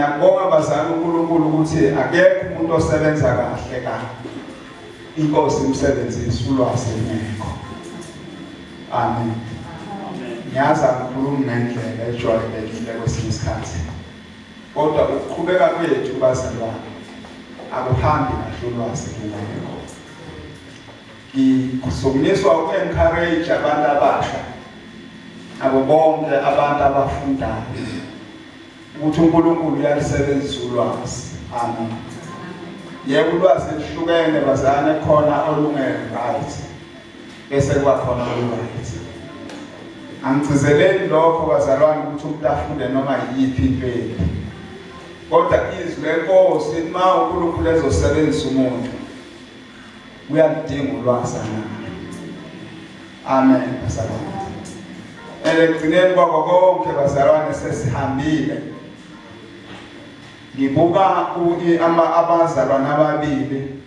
Ngiyabonga bazali uNkulunkulu ukuthi akekho umuntu osebenza kahle kahle. Inkosi imsebenzisa ulwazi ngekho. Amen. Ngiyazi angikhulumi ngendlela ejwayelekile kwesinye isikhathi. Kodwa ukuqhubeka kwethu bazalwane akuhambi kahle ulwazi ngekho. Ngisukunyiswa uku-encourage abantu abasha abo bonke abantu abafundayo ukuthi uNkulunkulu uyalusebenzisa ulwazi amen yebo ulwazi lihlukene bazane khona olunge-right bese kuba khona olunge-right angigcizeleli lokho bazalwane ukuthi umuntu afunde noma yiyiphi into yethu kodwa izwi lenkosi uma unkulunkulu ezosebenzisa umuntu uyaludinga ulwazi amen bazalwane ekugcineni kwako konke bazalwane sesihambile ngibuka abazalwane ababili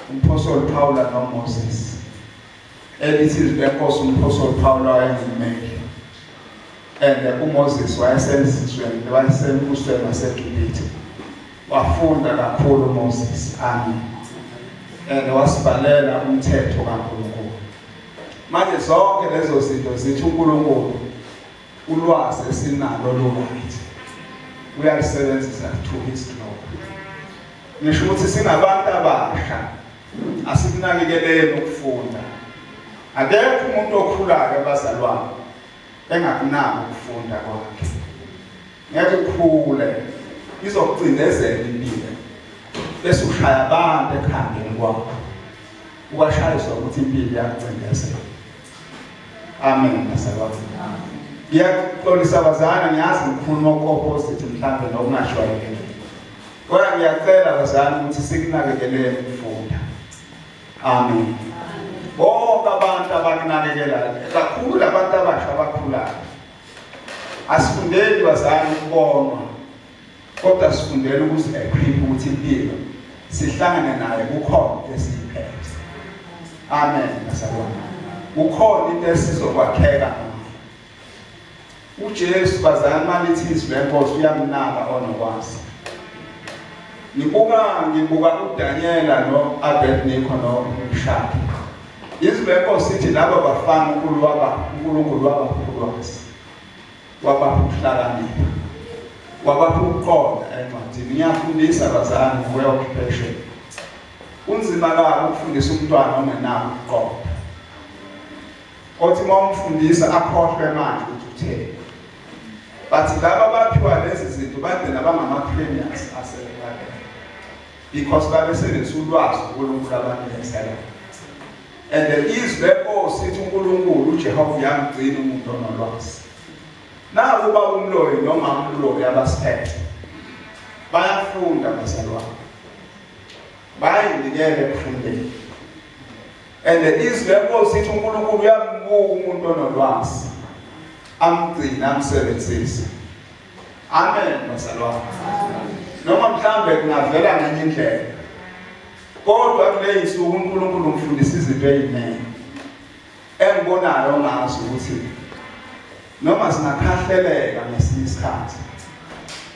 umphostoli Paul noMoses Elithi izwi lenkosi umphostoli Pawulu wayengumeli and uMoses wayesemzizweni wayesembusweni waseGibithe wafunda kakhulu uMoses ami and wasibhalela umthetho kaNkulunkulu manje zonke lezo zinto zithi uNkulunkulu ulwazi esinalo loluthi uyalisebenzisa to his glory ngisho ukuthi singabantu abasha Asikunakekeleni ukufunda. Akekho umuntu okhulayo abazalwane engakunaki ukufunda kwakhe. Ngeke ukhule izokugcindezela impilo bese ushaya abantu ekhambeni kwakho. Ubashayiswa ukuthi impilo iyakucindezela. Amen bazalwane. Ngiyaxolisa bazana ngiyazi ngikhuluma okopposite mhlambe nokungashwayeleki. Kodwa ngiyacela bazali ukuthi sikunakekeleni ukufunda. Amen. Bonke abantu abakunakekelayo, kakhulu labantu abasha abakhulayo. Asifundeli bazali ukubonwa kodwa sifundela ukuthi ekhiphe ukuthi impilo sihlangane naye kukhona into esiyiphethe. Amen. Ngasabona. Kukhona into esizokwakheka UJesu bazali malithi izwi lenkosi uyamnaka onokwazi. Ngibuka ngibuka uDaniela no Abednego no Mshaki. Izwi lenkosi ithi laba bafana uNkulunkulu waba uNkulunkulu waba ulwazi. Waba ukuhlakanipha. Waba ukuqonda encwadini. Ngiyafundisa bazali ngokuya occupation. Kunzima kakhulu ukufundisa umntwana ongenabo ukuqonda. othi uma umfundisa akhohlwe manje ukuthi utheni but laba abaphiwa lezi zinto bagcina bangama-premiers asebebalele because babesebenzisa ulwazi unkulunkulu abanikesela and the izwi lenkosi uNkulunkulu uJehova uyamgcina umuntu onolwazi naku baba umloyi noma umloyi abasiphethe bayafunda bazalwane bayinikele ekufundeni and izwi lenkosi ithi unkulunkulu uyambuka umuntu onolwazi amgcine amsebenzise amen bazalwane noma mhlawumbe kungavela ngenye indlela kodwa kuleyinsuku unkulunkulu umfundisa izinto eziningi Engikubonayo ngazo ukuthi noma singakhahleleka ngesinye isikhathi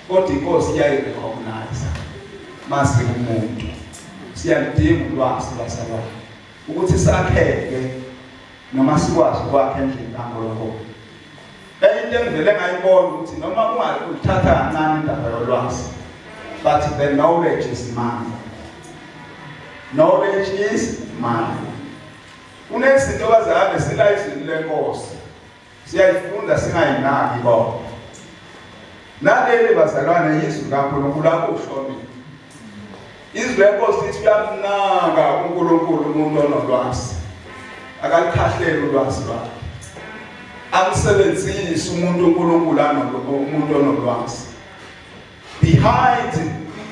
kodwa inkosi iyayirecognize mase umuntu siyalidinga ulwazi lwasalwana ukuthi sakheke noma sikwazi ukwakha endlini kaNkulunkulu enye into engivele ngayibona ukuthi noma ungathatha kancane indaba yolwazi but the knowledge is money knowledge is money Kunezinto abazali silayizini lenkosi siyayifunda singayinaki kodwa naleli bazalwane yizwi likaNkulunkulu akushonile izwi lenkosi lithi uyamnaka uNkulunkulu umuntu onolwazi akalikhahleli ulwazi lwakhe amsebenzise umuntu uNkulunkulu umuntu onolwazi Behind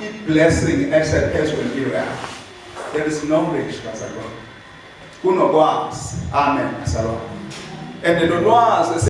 i-blessing esephezu kwempilo yakho there is knowledge bazalwane kunokwazi amen bazalwane and lolwazi